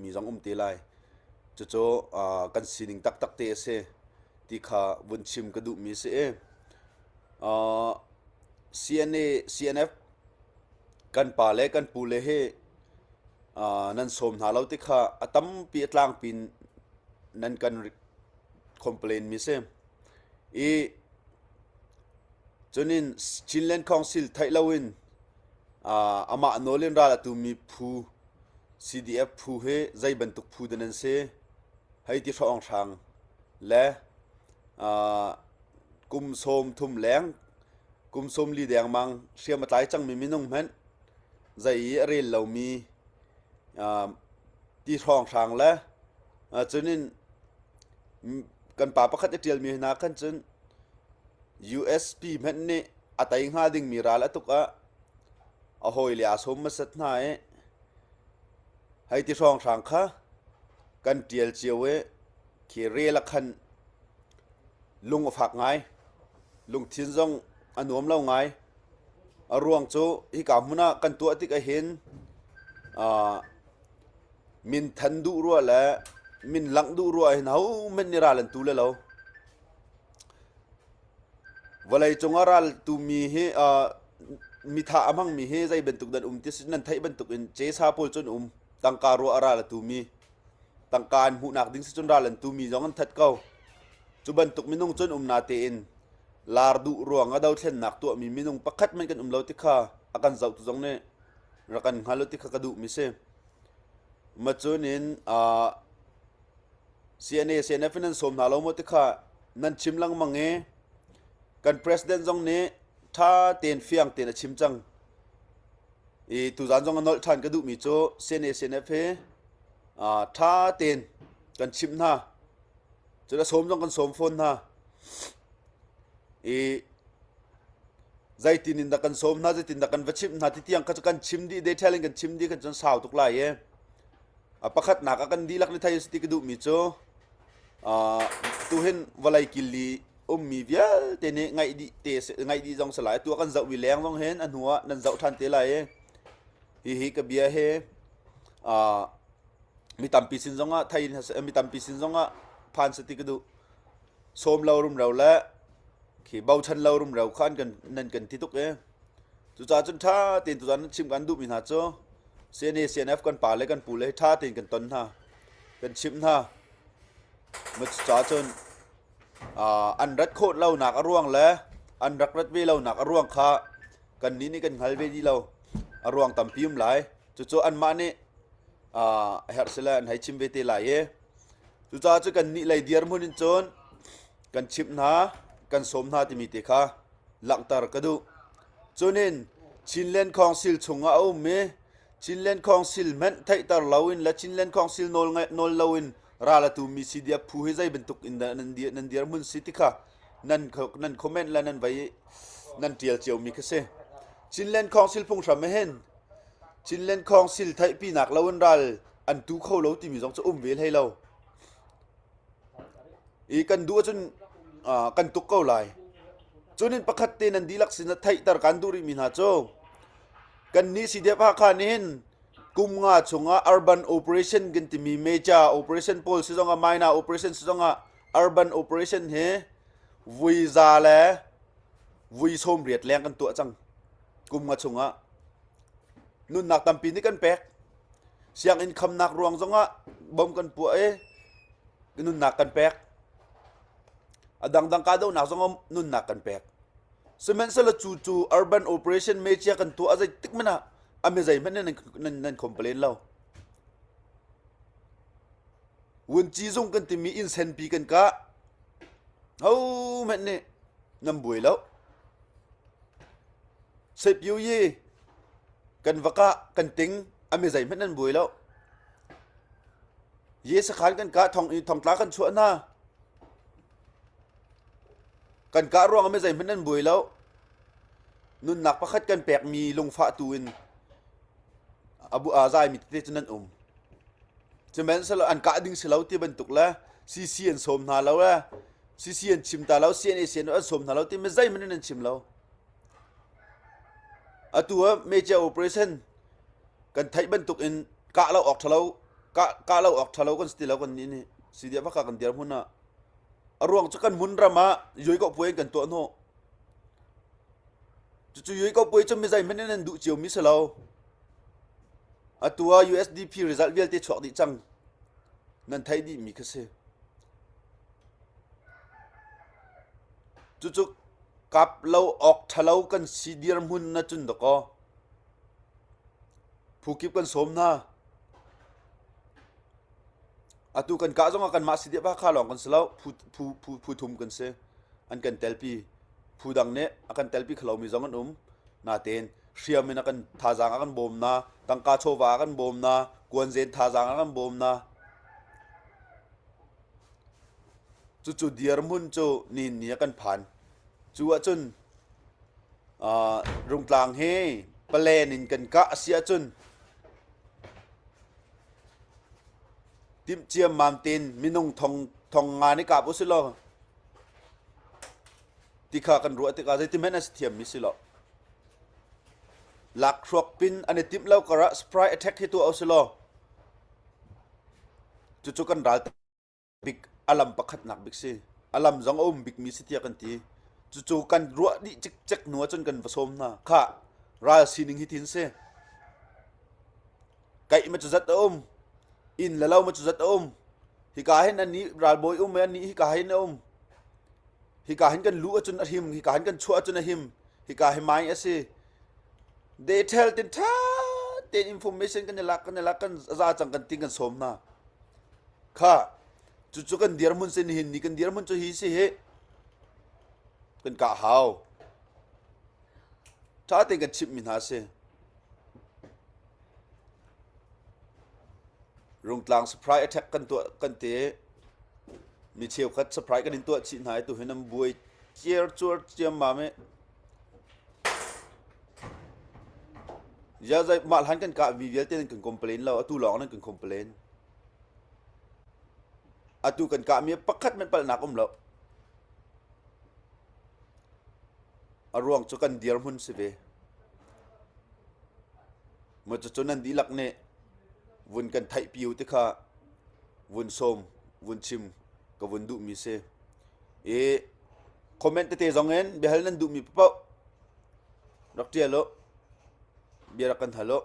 mi zong um te lai cucu kan sining taktak te a si ti kha vun chim ka duh mi si i CNA CNF kan pa le kan pu le he nan som hna lo ti kha a tampi a tlang pin nan kan complain mi si i cunin Chinland Council theih loin Amah nawl in ral a tumi phu, CDF phu hi zei bantuk phu dah nan si hei ti hrawnghrang. Le kum sawm thum leng, kum sawm li dengmang hriam a tlai cangmi minung hmanh zei i a rel lomi ti hrawnghrang le cun in kan pa pakhat i ṭialmi hna khan cun USB hmanh nih a tei hnga dingmi ral a tuk ah a hawile aa sawm hmasat hna i hei ti hrawnghrang kha kan ṭial cio i khi rel ah khan lung a fak ngai lungthin zong a nuam lo ngai a ruang cu hika hmun ah kan tuah tik ahhin min than duh rua le min langh duh rua ahhin hohmanh nih ral an tu le lo. Vawleicung a raltu mi hi mithah a hmangmi hi zei bantuk nan um ti nan theih bantukin cesa pawl cu an um. Tangka ruah a ral a tumi, tangka an hmuhnak ding si cun ral an tumi zong an that ko. Cu bantuk minung cu an um natein laar duh ruang a dothlennak tuahmi minung pakhat hmanh kan um lo ti kha a kan zohtu zong nih rak kan hngal u ti kha ka duhmi si. Macun in CNA CNF in an sawm hna lo maw ti kha nan chim lengmang i kan president zong nih ṭha tein fiang tein a chim cang i tuzaan zong a nolh ṭhan ka duhmi cu CNA CNF hi ṭha tein kan chimh hna cun a sawm zong kan sawm fawn hna i zeitin in dah kan sawm hna zeitin dah kan va chimh hna ti tiang kha cu kan chim dih detail in kan chim dih kha cun sau tuk lai i Pakhatnak ah kan dihlak le thei a si ti ka duhmi cu uh, tuhin vawlei kil i ummi vialte nih ngaih dih te ngaih dih zong si lai tu kan zoh mi leng zong hin a hnu ah nan zoh ṭhan te lai i hihi ka bia he uh, mi tampi sin zongah thei mi tampi sin zongah phan sa ti ka duh sawm lo rum ro le khi bochan lo rum ro kha an kan nan kan ti tuk e Cucahcun ṭha tein tuchan nan chimh kan duhmi hna cu CNA, CNF kan pa le kan pu le ṭha tein kan ton hna, kan chimh hna. Cucahcun an rat khawh lonak a ruang le an rak rat ve lonak a ruang kha kannih nih kan hngal ve dih lo. A ruang tampi um lai. Cucu anmah nih a herh sile an hei chim ve te lai i cucahcun kannih lei dirhmun in cun kan chimh hna, kan sawm hna timi te kha langhter ka duh. Cunin Chinland Council chungah a um i Chinland Council hmenh theihter loin le Chinland Council nawl ngai nawl loin ral a tumi CDF phu hi zei bantuk in dah nan dir nan dir mun si ti kha nan nan comment le nan vai nan tial cio mi kha si. Chinland Council phunghram he hin Chinland Council theihpinak lo in ral an tu kho lo timi zong cu um ve hlei lo. I kan duh ahcun uh, kan tuk ko lai. Cunin pakhat te nan dihlak sin a theihter kan duh rihmi hna cu kan ni si dep ha khan hin kum nga chungah urban operation kan timi major operation pawl si zongah minor operation si zongah urban operation hi vui za le vui som riat leng kan tuah cang kum nga chungah nunnak tampi nih kan pek Sianginn khamnak ruang zongah bom kan puah i nunnak kan pek. A dangdang kahdohnak zongah nunnak kan pek. Sihmanhsehlaw cu cu urban operation mechia kan tuah a zeitik hmanh ah a mi zeihmanh nih nan, nan complain lo. Vunci zung kan timi insenpi kan kah. Hohmanh nih nan buai lo. Setbyu-yi, kan vak ah kan ting a mi zeihmanh an buai lo. Ye sakhan kan ka thong i thongtla kan chuah hna. Kan ka ruang a mi zeihmanh an buai lo. Nunnak pakhat kan pek mi lungfah tu in abu azai mi te cu nan um. Cumen selo an ka ding si lo ti bantuk le CC an som hna lo e. CC an chim ta lo CNA CNO an som hna lo ti mi zeihmanh an chim lo. Atu ah meicia operation kan theih bantuk in kah lo awk ṭhalo, kah kah lo awk ṭhalo kan si ti lo kannih nih. Sidiah vaka kan dir hmun ah. A ruang cu kan hmun ram ah yuaikawh puai in kan tuah hnawh. Cucu yuaikawh puai cu mizeihmanh in an duh ciomi si lo. Atu ah USDP result vialte chuak dih cang. Nan theih dihmi kha si. Cucu kap lo awk ṭhalo kan si dirhmun na cun dakaw phukip kan sawm hna. Atu kan kah zongah kanmah si dihpah kha lawng kan si lo, phu thum kan si. An kan telpi. Phu dang nih a kan telpi khalomi zong an um. Natein hriam in a kan thazaang a kan bawm hna, tangka chawva a kan bawm hna, kuanzen thazaang a kan bawm hna. Cucu dirhmun cu nihni ah kan phan. Cu ahcun uh, Rungtlang hi plan in kan kah a si ahcun timh ciammam tein minung thong thong nga nih kap u si law ti kha kan ruah tikah zeitimen a si thiammi si lo. Lak hruak pin an i timh lo karah spry attack hi tuah u si law cucu kan ral bik a lam pakhatnak bik si a lam zong a um bikmi si tiah kan ti cucu kan ruah dih cikcek hnu ahcun kan va sawm hna kha ral sining hi tin si kaih ma cu zat a um in le lo ma cu zat a um hika hin ani ralbawi um e ani hika hin a um hika hin kan lu acun a him hika hin kan chuah acun a him hika hi mai asi they tell tin tha ten information kan i lak kan i lak kan za cang kan ti kan sawm hna kha cucu kan dirhmun sin hin ni kan dirhmun cu hi si hi kan kah hau ṭha tein kan chimhmi hna si rungtlang surprise attack kan tuah kan te mi cheukhat surprise kan in tuah chih hna i tu hin an buai ciar cuar ciam ma me ya zai mah hlan kan kah mi vialte nan kan complain lo atu lawng nan kan complain Atu kan kahmi pakhat hmanh palhnak um loh. A ruang cu kan dirhmun si ve. Macucu nan dihlak nih vun kan theih piu ti kha vun sawm, vun chim ka vun duhmi si. I comment tete zong in biahal nan duhmi paoh Rak ṭial u. Bia rak kan hal u.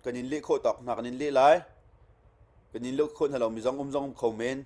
Kan in leh khawh tawk hna kan in leh lai. Kan in leh khawh hna lomi zong um zong um kho men.